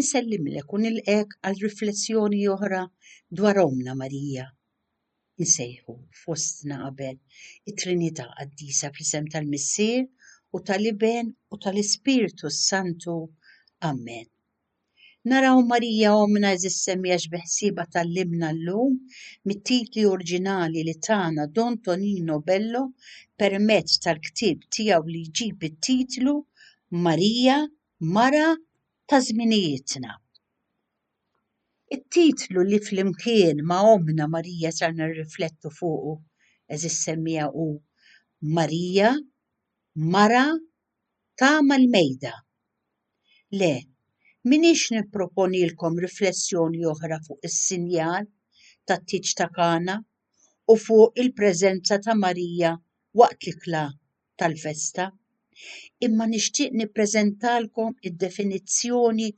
Insellimlek u nilqgħek għal riflessjoni oħra dwar Ommna Marija. Insejħu fostna qabel it-Trinità Qaddisa fl-isem tal-Missier u tal-Iben u tal-Ispirtu s-Santu. Amen. Naraw Marija Ommna eżis semmija x'beħsiebha tallimna llum mit-titli oriġinali li tana Don Tonino Bello permezz tal-ktieb tiegħu li jġib it-titlu Marija Mara ta' żminijietna. It-titlu li flimkien ma' Ommna Marija ser nirriflettu fuqu, għeżież semmiegħa hu Marija, Mara ta' mal-Mejda. Le, m'iniex nipproponilkom riflessjoni oħra fuq is-sinjal tat-tieġ ta' Kana u fuq il-preżenza ta' Marija waqt l-ikla tal-festa, imma nixtieq nippreżentalkom id-definizzjoni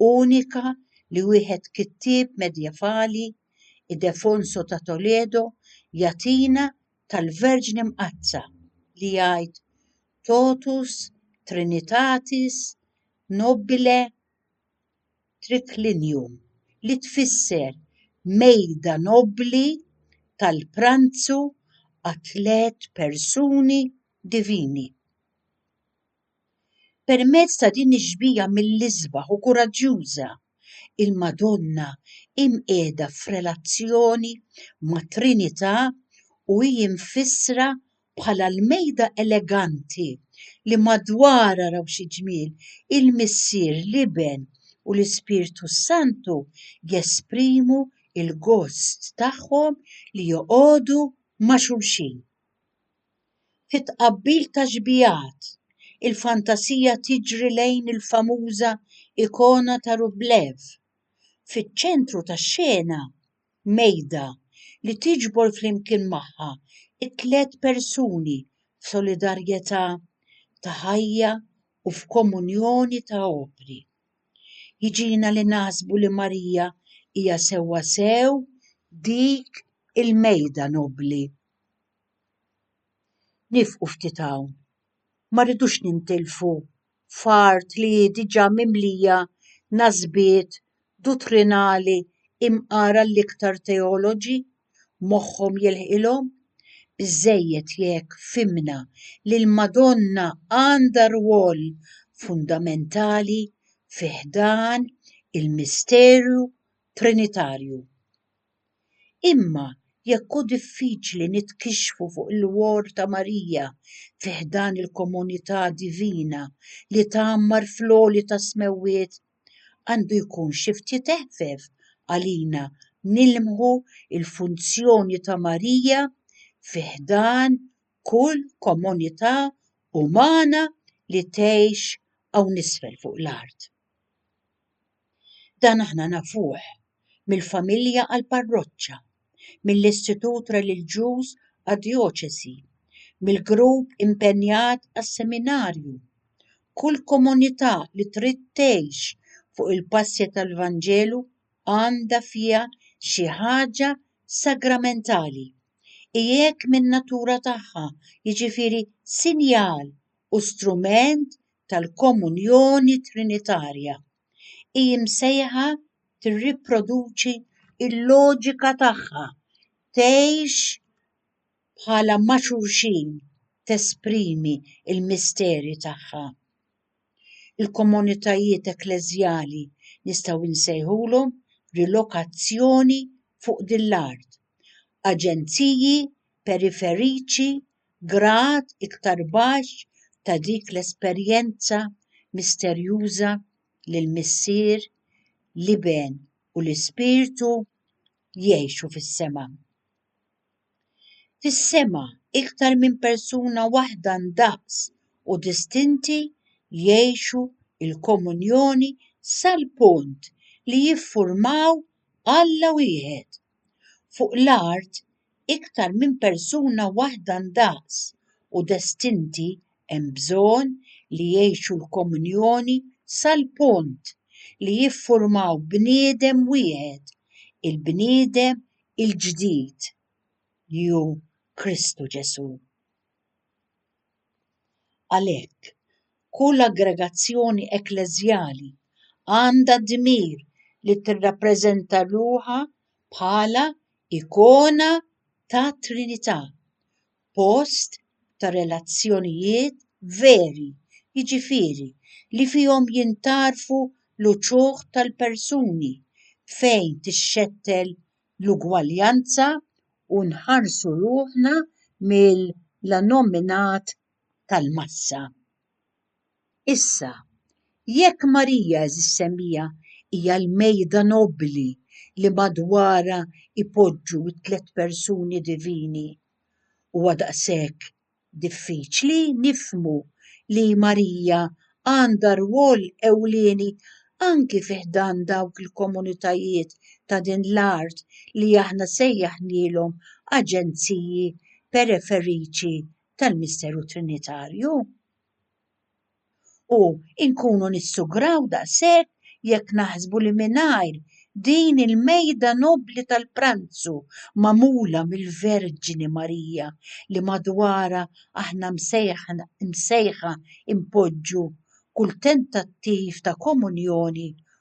unika li wieħed kittieb medjevali, Idefonso ta' Toledo, jagħtina tal-Verġni Mqaddsa, li jgħid, Totus Trinitatis nobile triclinium, li tfisser mejda nobbli tal-pranzu għat-tliet persuni divini. Permezz ta' din ix-xbieha mill-isbaħ u kuraġġjuża, il-Madonna hi mqiegħda f'relazzjoni mat-Trinità u hi mfissra bħala l-mejda eleganti li madwarha raw xi ġmiel, il-Missier, l-Iben, u l-Ispirtu s-Santu jesprimu l-gost tagħhom li joqogħdu ma' xulxin. Fi tqabbil ta' xbijat, il-fantasija tiġri lejn il-famuża ikona ta' Rublev. Fiċ-ċentru tax-xena mejda li tiġbor flimkien magħha t-tliet persuni f'solidarjetà ta' ħajja u f'komunjoni ta' opri. Jiġina li naħsbu li Marija hija sewwasew dik il-mejda nobbli. Niefqu ftit hawn, ma rridux nintilfu f'art li hi diġà mimlija nasbiet duttrinali imqara l-iktar teoloġi moħħhom jilħqilhom? Biżżejjed jekk fhimna li l-Madonna għandha rwol fundamentali fi ħdan il-misteru Trinitarju. Imma jekk hu diffiċli nitkixxfu fuq il-whor ta' Marija fi ħdan il-komunità divina li tgħammar fl-għoli tas-smewwiet, għandu jkun xi ftit eħfef għalina nilmħu l-funzjoni ta' Marija fi ħdan kull komunità umana li tgħix hawn isfel fuq l-art. Dan aħna nafuh mill-familja għall-parroċċa, mill-istitut reliġjuż għad-djoċesi, mill-grupp impenjat għas-seminarju. Kull komunità li trid tgħix fuq il-passja tal-Vanġelu għandha fiha xi ħaġa sagramentali, hi hekk min-natura tagħha, jiġifieri sinjal u strument tal-Komunjoni Trinitarja. Hi msejħa tirriproduċi l-loġika tagħha, tgħix bħala ma' xulxin, tesprimi l-misteri tagħha. Il-komunitajiet ekkleżjali nistgħu nsejħulhom rilokazzjoni fuq din l-art, aġenziji periferiċi grad iktar baxx ta' dik l-esperjenza misterjuża li l-Missier, l-Iben u l-Ispirtu jgħixu fis-sema. Fis-sema, iktar minn persuna waħda ndaqs u distinti jgħixu l-komunjoni sal-punt li jiffurmaw Alla wieħed. Fuq l-art iktar minn persuna waħda ndaqs u destinti hemm bżonn li jgħixu l-komunjoni sal-punt li jiffurmaw bniedem wieħed, il-bniedem il-ġdid, li hu Kristu Ġesù. Għalhekk, kull aggregazzjoni ekkleżjali għandha d-dmir li tirrappreżenta ruħha bħala ikona tat-Trinità, post ta' relazzjonijiet veri, jiġifieri li fihom jintgħarfu l-uċuħ tal-persuni, fejn tixxettel l-ugwaljanza u nħarsu ruħna mill-annominat tal-massa. Issa, jekk Marija Eżissemmija hija l-mejda nobbli li madwarha jpoġġu t-tliet persuni divini, huwa daqshekk diffiċli nifhmu li Marija għandha rwol ewlieni anki fi ħdan dawk il-komunitajiet ta' din l-art li aħna sejjaħnielhom aġenziji periferiċi tal-misteru trinitarju. U inkunu nissugraw daqshekk jekk naħsbu li mingħajr din il-mejda nobbli tal-pranzu magħmula mill-Verġni Marija li madwarha aħna msejħa npoġġu kull tentattiv ta' komunjoni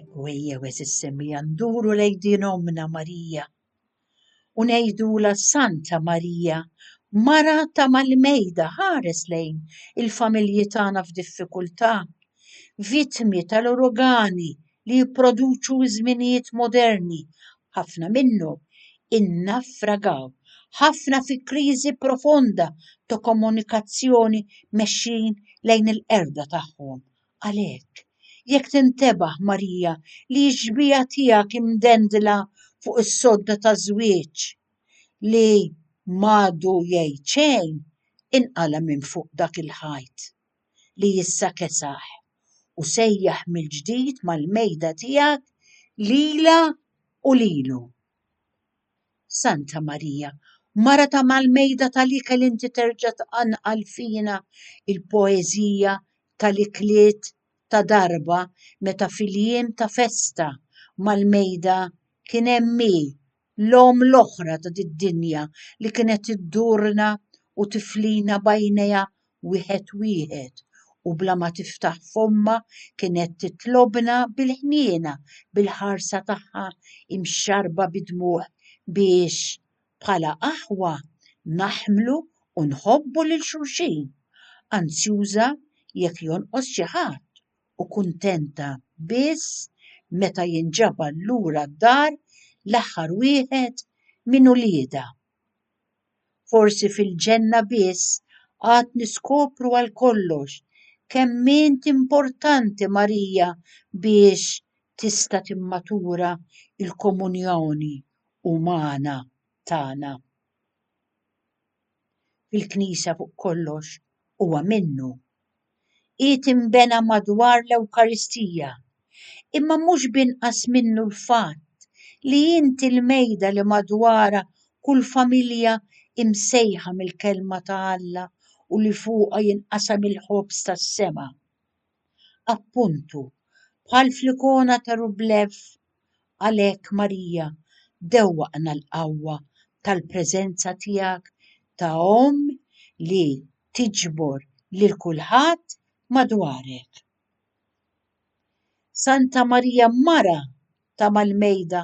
Ekku ejjew eżis semija nduru lejn din ommna Marija u ngħidula Santa Marija, mara ta' mal-mejda ħares lejn il-familji tagħna f'diffikultà, vittmi tal-urugani li jipproduċu ż-żminijiet moderni, ħafna minnhom innaffragaw ħafna fi kriżi profonda ta' komunikazzjoni mexjin lejn il-qerda tagħhom. Għalhekk, jekk tintebaħ, Marija, li x-xbieha tiegħek imdendla fuq is-sodda ta' żwieġ li m'għadu jgħid xejn, inqala' minn fuq dak il-ħajt li issa kesaħ, u sejjaħ mill-ġdid mal-mejda tiegħek lilha u lilu. Santa Marija, mara ta' mal-mejda tal-ikel inti terġa' tqanqal fina l-poeżija tal-ikliet ta' darba meta fil-jiem ta' festa mal-mejda kien hemm hi, l-omm l-oħra ta' did-dinja li kienet iddurna u tiflina b'għajnejha wieħed wieħed u bla ma tiftaħ fommha kienet titlobna bil-ħniena bil-ħarsa tagħha imxarrba bid-dmugħ biex, bħala aħwa, naħmlu u nħobbu lil xulxin, anzjuża jekk jonqos xi ħadd u kuntenta biss meta jinġabar lura d-dar l-aħħar wieħed minn uliedha. Forsi fil-ġenna biss għad niskopru għal kollox kemm int importanti Marija biex tista' timmatura l-komunjoni umana tagħna. Fil-Knisja fuq kollox huwa minnu Qiegħed inbena madwar l-Ewkaristija, imma mhux b'inqas minnu l-fatt li inti l-mejda li madwarha kull familja hi msejħa mill-Kelma ta' Alla u li fuqha jinqasam il-ħobż tas-sema. Appuntu, bħal fl-ikona ta' Rublev, Għalhekk, Marija, dewwaqna l-qawwa tal-preżenza tiegħek ta' Omm li tiġbor lil kulħadd madwarek. Santa Marija Mara ta' Malmejda,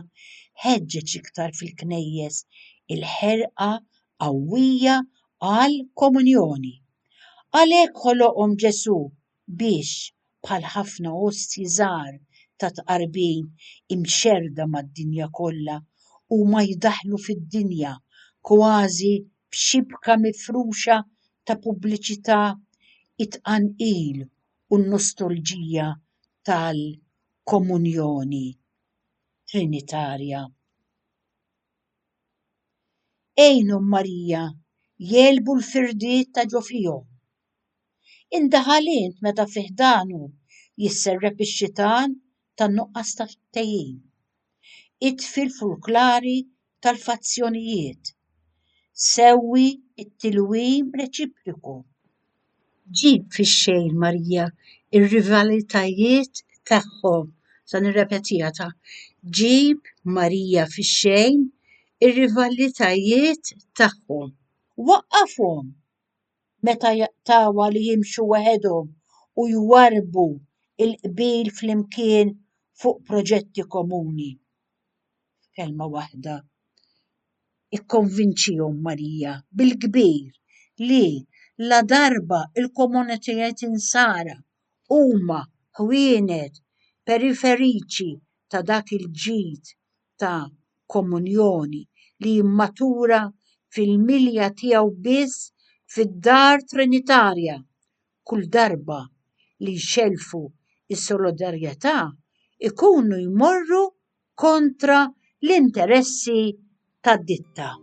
ħeġġeġ iktar fil-knejjes il-ħerqa qawwija għall-komunjoni. Għalhekk ħoloqhom Ġesù biex, bħal ħafna ostji żgħar ta' tqarbin imxerrda mad-dinja kollha, huma jdaħħlu fid-dinja kważi b'xibka mifruxa ta' pubbliċità t-tqanqil u n-nostalġija tal-Komunjoni Trinitarja. Għinhom Marija jegħlbu l-firdiet ta' ġo fihom. Indaħal int meta fi ħdanu jisserrep ix-xitan tan-nuqqas ta' ftehim. Itfi l-furklari tal-fazzjonijiet. Sewwi t-tilwim reċipriku. Ġib fix-xejn Marija r-rivalitajiet tagħhom. Se nirrepetiha ta'. Ġib Marija fix-xejn ir-rivalitajiet tagħhom. Waqqafhom meta jaqtgħuha li jimxu waħedhom u jwarrbu l-qbil flimkien fuq proġetti komuni. F'kelma waħda, ikkonvinċihom, Marija, bil-kbir li ladarba l-komunitajiet Insara huma ħwienet periferiċi ta' dak il-ġid ta' komunjoni li jimmatura fil-milja tiegħu biss fid-dar trinitarja. Kull darba li jxellfu s-solidarjetà jkunu jmorru kontra l-interessi tad-ditta.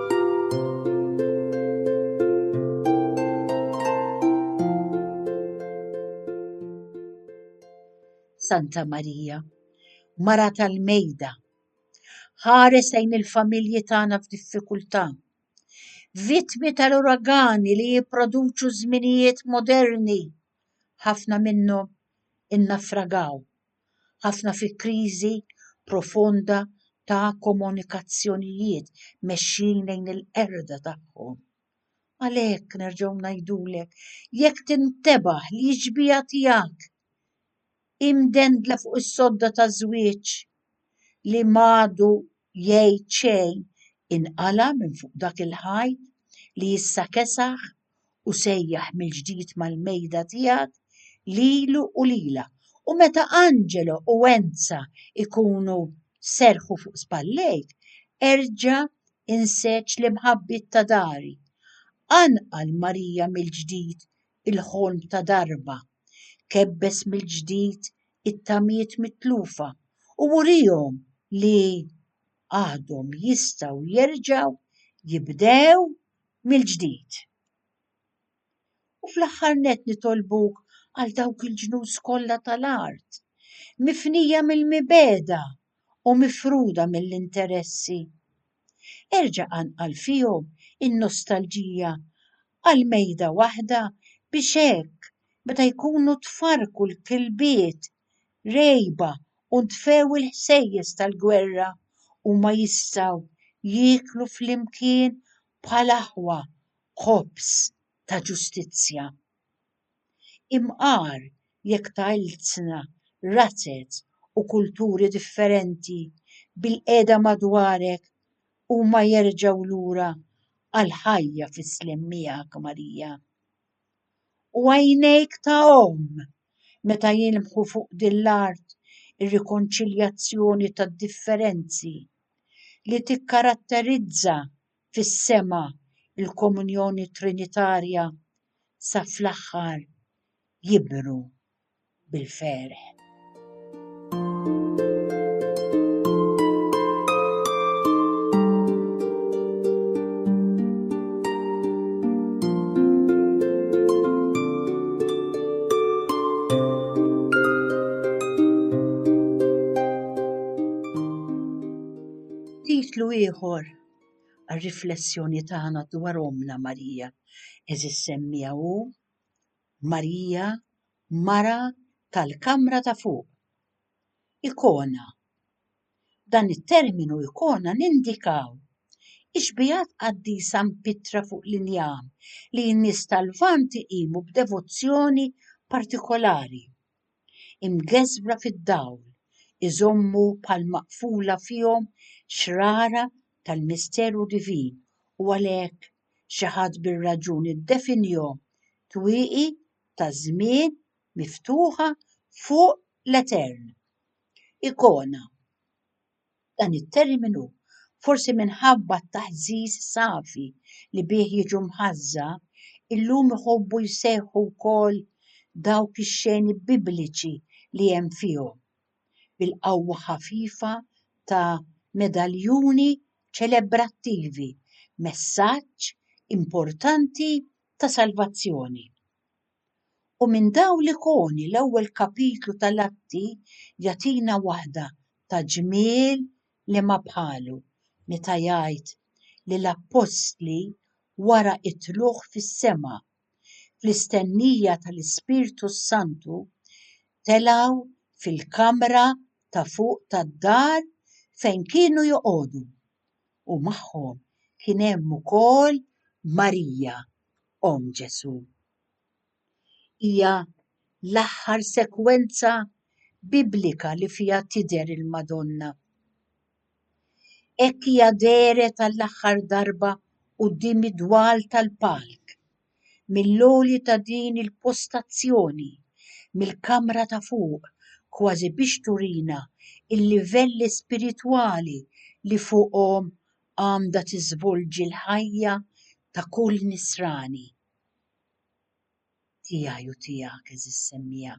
Santa Marija, mara tal-mejda, ħares lejn il-familji tagħna f'diffikultà. Vittmi tal-uragani li jipproduċu żminijiet moderni, ħafna minnhom innafragaw ħafna fi kriżi profonda ta' komunikazzjonijiet mexjin lejn il-qerda tagħhom. Għalhekk nerġgħu ngħidulek, jekk tintebaħ li x-xbieha tiegħek hi mdendla fuq is-sodda taż-żwieġ li m'għadu Jgħid xejn inqala' minn fuq dak il-ħajt li issa kesaħ u sejjaħ mill-ġdid mal-mejda tiegħek lilu u lilha. U meta Angelo u Enza jkunu serrħu fuq spallejk, erġa' inseġ l-imħabbiet ta' dari. Qanqal Marija mill-ġdid il-ħolm ta' darba, kebbeż mill-ġdid it-tamiet mitlufa u urihom li għadhom jistgħu jerġgħu jibdew mill-ġdid. U fl-aħħar nett nitolbuk għal dawk il-ġnus kollha tal-art, mifnija mill-mibegħda u mifruda mill-interessi, Erġa' qanqal fihom in-nostalġija għal mejda waħda biex hekk meta jkunu tfarrku l-kilbiet rgħiba u ntfew il-ħsejjes tal-gwerra, huma jistgħu jieklu flimkien bħal aħwa ħobż ta' ġustizzja. Imqar jekk ta' ilsna, razez u kulturi differenti bilqiegħda madwarek huma jerġgħu lura għall-ħajja fis-sliem miegħek, Marija. U għajnejk ta' omm meta jilmħu fuq din l-art ir-rikonċiljazzjoni tad-differenzi li tikkaratterizza fis-sema l-komunjoni trinitarja sa fl-aħħar jibru bil-ferħ. ieħor għar-riflessjoni tagħna dwar Ommna Marija. Eżis semmija u Marija mara tal-kamra ta' fuq. Ikona. Dan it-terminu ikona nindikaw ixbijat qaddisa mpitra fuq l-injam li n-nies tal-Lvant iqimu b'devozzjoni partikolari. imgeżwra fid-dawl, iżommu bħal maqfula fihom xrara tal-misteru divin u għalhekk xi ħadd bir-raġun iddefinihom twieqi taż-żmien miftuħa fuq l-etern. Ikona. Dan it-terminu, forsi minħabba t-taħżiż safi li bih jiġu mħażża, illum iħobbu jsejħu wkoll dawk ix-xeni Bibliċi li hemm fihom, bil-qawwa ħafifa ta' medaljuni ċelebrattivi, messaġġ importanti ta' salvazzjoni. U minn dawn l-ikoni l-ewwel kapitlu tal-Atti jagħtina waħda ta' ġmiel li ma bħalu, meta jgħid li l-appostli wara t-tlugħ fis-sema, fl-istennija tal-Ispirtu s-Santu, telgħu fil-kamra ta' fuq tad-dar fejn kienu joqogħdu, u magħhom kien hemm ukoll Marija. Omm Ġesù. Hija l-aħħar sekwenza Biblika li fiha tidher il-Madonna. Hekk hija dehret għall-aħħar darba quddiem id-dwal tal-palk, mill-għoli ta' din il-postazzjoni, mill-kamra ta' fuq, kważi biex turina l-livelli spiritwali li fuqhom għandha tiżvolġi l-ħajja ta' kull Nisrani, tiegħi u tiegħek, għeżież semmiegħa.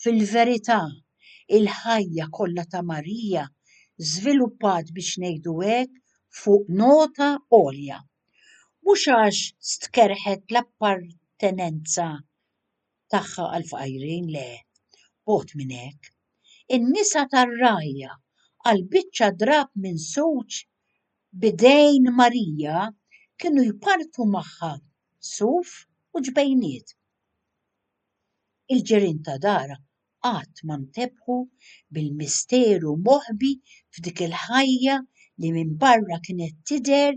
Fil-verità, il-ħajja kollha ta' Marija żviluppat biex ngħidu hekk fuq nota għolja. Mhux għax stkerrħet l-appartenenza tagħha għall-fqajrin, le, bogħod minn hekk. In-nisa tar-rgħajja, għal biċċa drapp minsuġ b'idejn Marija, kienu jpartu magħha suf u ġbejniet. Il-ġirien ta' darha qatt ma ntebħu bil-misteru moħbi f'dik il-ħajja li minbarra kienet tidher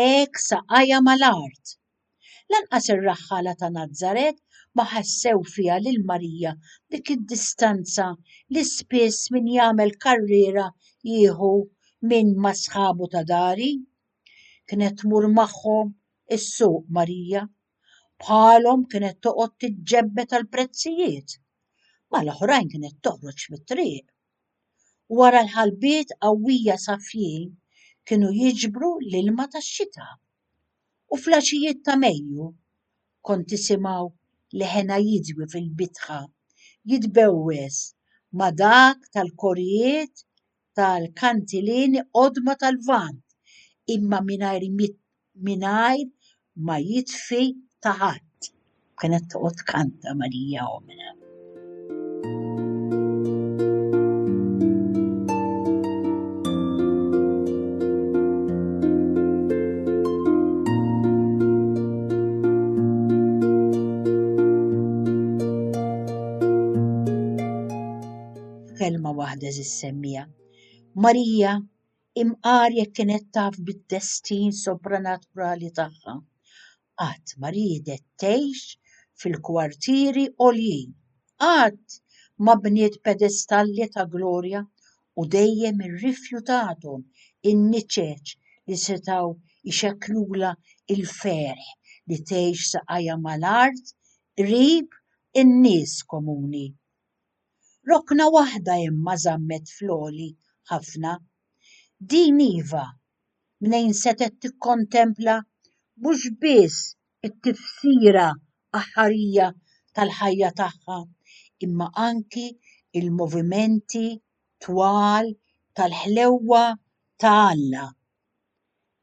hekk saqajha mal-art, Lanqas ir-raħħala ta' Nazaret ma ħassew fiha lil Marija dik id-distanza li spiss min jagħmel karriera jieħu minn ma' sħabu ta' dari. Kienet tmur magħhom is-suq Marija. Bħalhom kienet toqgħod tiġġebbed għall-prezzijiet. Mal-oħrajn kienet toħroġ fit-triq Wara l-ħalbiet qawwija sa f'jiem kienu jiġbru l-ilma tax-xita. U fl-għaxijiet ta' Mejju kont tisimgħu l-hena jidwi fil-bitħa jitbewwes ma' dak tal-korijiet tal-kantileni qodma tal-Lvant imma mingħajr mingħajr ma jitfi ta' ħadd. Kienet toqgħod kanta Marija omna. Kelma waħda żissemmija. Marija Imqar jekk kienet taf bid-destin sopranaturali tagħha, qatt ma riedet tgħix fil-kwartieri għoljin, qatt ma bniet pedestalli ta' glorja u dejjem irrifjutathom in-niċeċ li setgħu jxekklulha l-ferħ li tgħix saqajha mal-art qrib in-nies komuni. Rokna waħda imma żammet fl-għoli ħafna. Din iva, mnejn setgħet tikkontempla mhux biss it-tifsira aħħarija tal-ħajja tagħha imma anki l-movimenti twal tal-ħlewwa ta' Alla.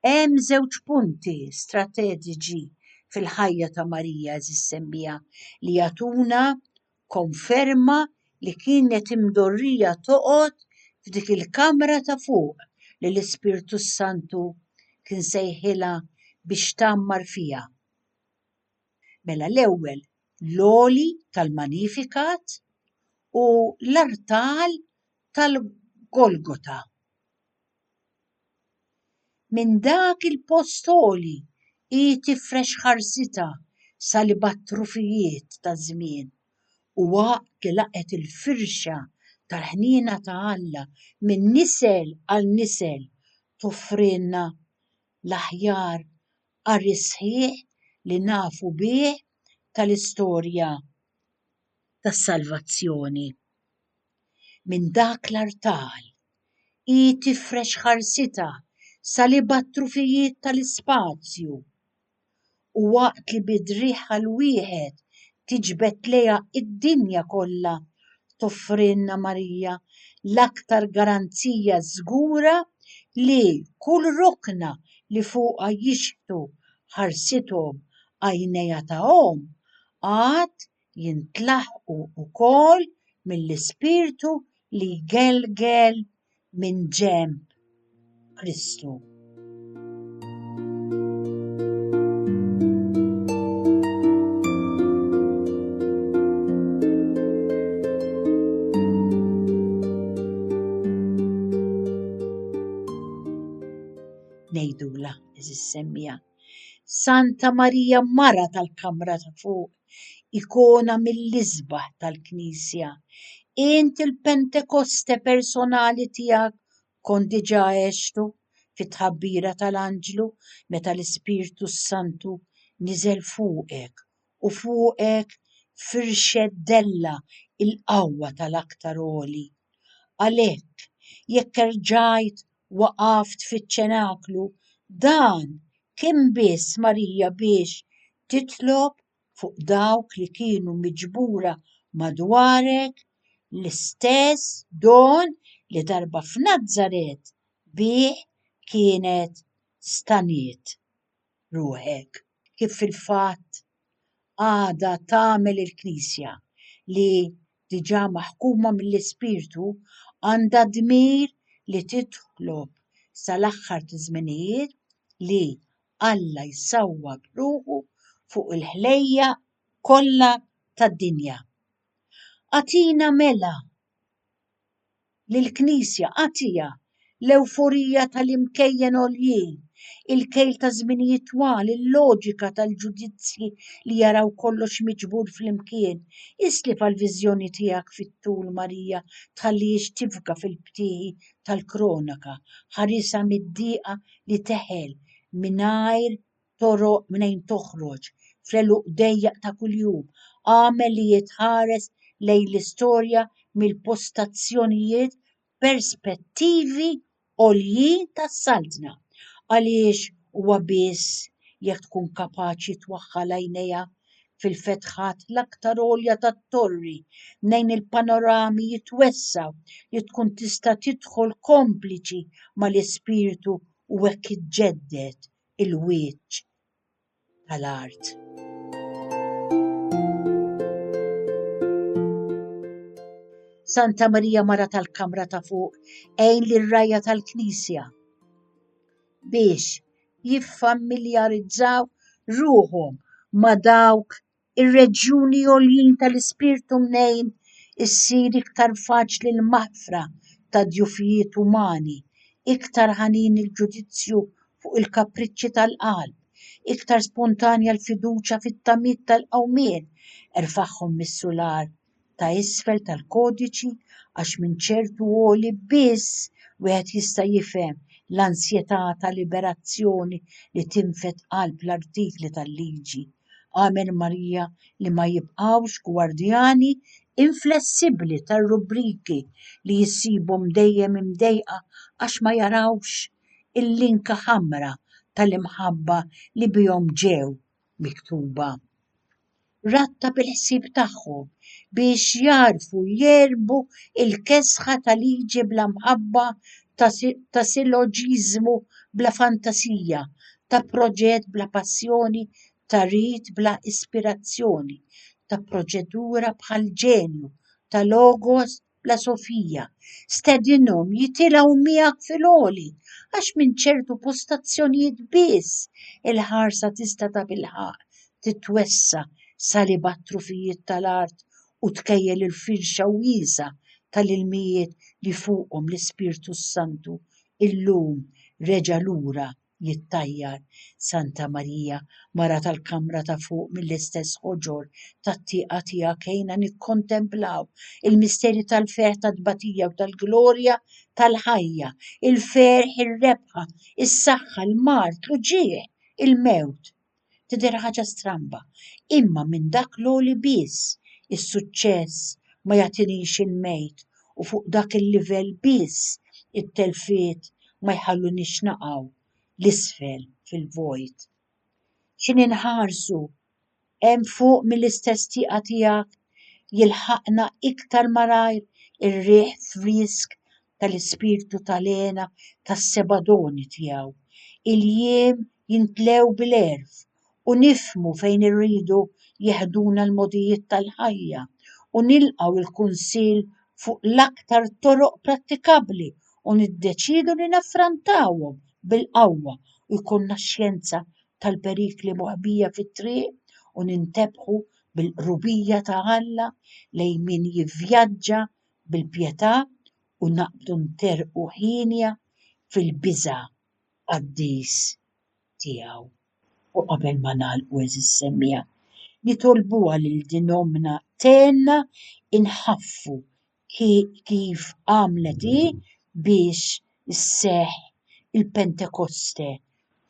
Hemm żewġ punti strateġiċi fil-ħajja ta' Marija, eżis semmija, li jagħtuna Konferma li kienet imdorrija toqgħod f'dik il-kamra ta' fuq li l-Ispirtu s-Santu kien sejħilha biex tgħammar fiha. Mela l-ewwel l-għoli tal-Magnificat u l-artal tal-Golgota. Minn dak il-post għoli hi tifrex ħarsitha sa li bgħat-trufijiet taż-żmien u waqt li laqgħet il-firxa tal-ħniena ta' Alla minn nisel għal nisel toffrilna l-aħjar qari sħiħ li nafu bih tal-istorja. tas-salvazzjoni. Minn dak l-artal hi tifrex ħarsitha sal-ibgħad trufijiet tal-ispazju, u waqt li bi driegħha l-wieħed tiġbed lejha d-dinja kollha, toffrilna Marija l-aktar garanzija żgura li kull rokna li fuqha jixħtu ħarsithom għajnejha ta' omm għad jintlaħqu wkoll mill-ispirtu li jgelgel minn ġenb Kristu. Nejdula, eżis semmija. Santa Marija Mara tal-Kamra ta' fuq, ikona mill-isbaħ tal-Knisja. Int il-Pentekoste personali tiegħek kont diġà għextu fit-tħabbira tal-anġlu meta l-Ispirtu s-Santu niżel fuqek u fuqek firxet dellha l-qawwa tal-Aktar Għoli. Għalhekk, jekk erġajt waqaft fiċ-ċenaklu, dan kien biss Marija biex titlob fuq dawk li kienu miġbura madwarek l-istess don li darba f'Nazaret bih kienet staniet. ruħek kif fil-fatt għadha tagħmel il-Knisja li, diġà maħkuma mill-Ispirtu, għandha d-dmir li titlob sal-aħħar taż-żminijiet li Alla jsawwar ruħu fuq il-ħlejjaq kollha tad-dinja. Agħtina mela! li l-Knisja għatiha, l-ewforija tal-imkejjen għoljin, il-kejl ta' żminijiet twal, il-loġika tal-ġudizzji li jaraw kollox miġbur flimkien. Islif għall-viżjoni tiegħek fit-tul, Marija, tħallihiex tifga fil-btieħi tal-kronaka, ħarisha mid-diqa li teħel mingħajr toroq mnejn toħroġ, fl-għeluq dejjaq ta' kuljum, agħmel li jitħares lejn l-istorja mill-postazzjonijiet perspettivi għoljin tas-Saltna, għaliex huwa biss jekk tkun kapaċi twaħħal għajnejha fil-fetħat l-aktar għolja tat-torri mnejn il-panorami jitwessgħu li tkun tista' tidħol kompliċi mal-ispirtu u hekk iġġedded il-wieġġ tal-art. Santa Marija Mara tal-Kamra ta' fuq għejn lir rajja tal-Knisja biex jiffamiljarizzaw ruħhom ma' dawk ir-reġjuni għoljin tal-ispirtu mnejn issir iktar faċli l-maħfra ta' djufijiet umani, iktar ħanin il-ġudizzju fuq il-kapriċċi tal-qalb, iktar spontanja l-fiduċja fit-tamiet tal-qawmien, erfagħhom mis-sular ta' isfel tal-kodiċi għax minn ċertu għoli biss wieħed jista' jifhem l-ansjetà ta' liberazzjoni li tinfed qalb l-artikli tal-liġi. Amen Marija li ma jibqgħux gwardjani inflessibbli tar-rubbriki li jsibhom dejjem imdejqa għax ma jarawx il-linka ħamra tal-imħabba li bihom ġew miktuba. rabta bil-ħsieb tagħhom biex jagħrfu jegħlbu l-kesħa ta' liġi bla mħabba, ta' siloġiżmu bla fantasija, ta' proġett bla passjoni, ta' rit bla ispirazzjoni, ta' proċedura bħall-ġenju, ta' logos bla Sofija, stedinhom jitilgħu miegħek fil-għoli għax minn ċertu postazzjonijiet biss il-ħarsa tista' ta' bilħaqq titwessa' sa li b'għat-trufijiet tal-art u tkejjel il-firxa wiesgħa tal-ilmijiet li fuqhom l-Ispirtu s-Santu illum reġa' lura jittajjar Santa Marija, mara tal-kamra ta' fuq mill-istess ħoġor tat-tieqa tiegħek għinna nikkontemplaw il-misteri tal-ferħ tat-tbatija u tal-glorja tal-ħajja, il-ferħ, ir-rebħa, is-saħħa, l-mard, l-uġigħ, il-mewt. Tidher ħaġa stramba, imma minn dak l-għoli biss is-suċċess ma jagħtinix il-mejt u fuq dak il-livell biss it-telfiet ma jħallunix naqgħu 'l isfel fil-vojt. Xi ninħarsu hemm fuq mill-istess tieqa tiegħek jilħaqna iktar malajr ir-riħ frisk tal-ispirtu ta' l-hena tas-seba' doni tiegħu. Il-jiem jintlew bil-għerf u nifhmu fejn irridu jeħduna l-mogħdijiet tal-ħajja u nilqgħu l-kunsill fuq l-aktar toroq prattikabbli u niddeċiedu li naffrontawhom bil-qawwa u jkollna xjenza tal-perikli moħbija fit-triq u nintebħu bil-qrubija ta' Alla lejn min jivvjaġġa bil-pjetà u naqbdu nterrqu hienja fil-biża' qaddis tiegħu. U qabel ma nagħlqu, għeżież semmiegħa, nitolbuha lil din ommna tgħinna nħaffu kif għamlet hi biex isseħħ il-Pentekoste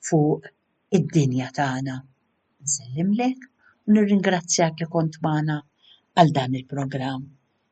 fuq id-dinja tagħna. Nsellimlek u nirringrazzjak li kont magħna għal dan il-programm.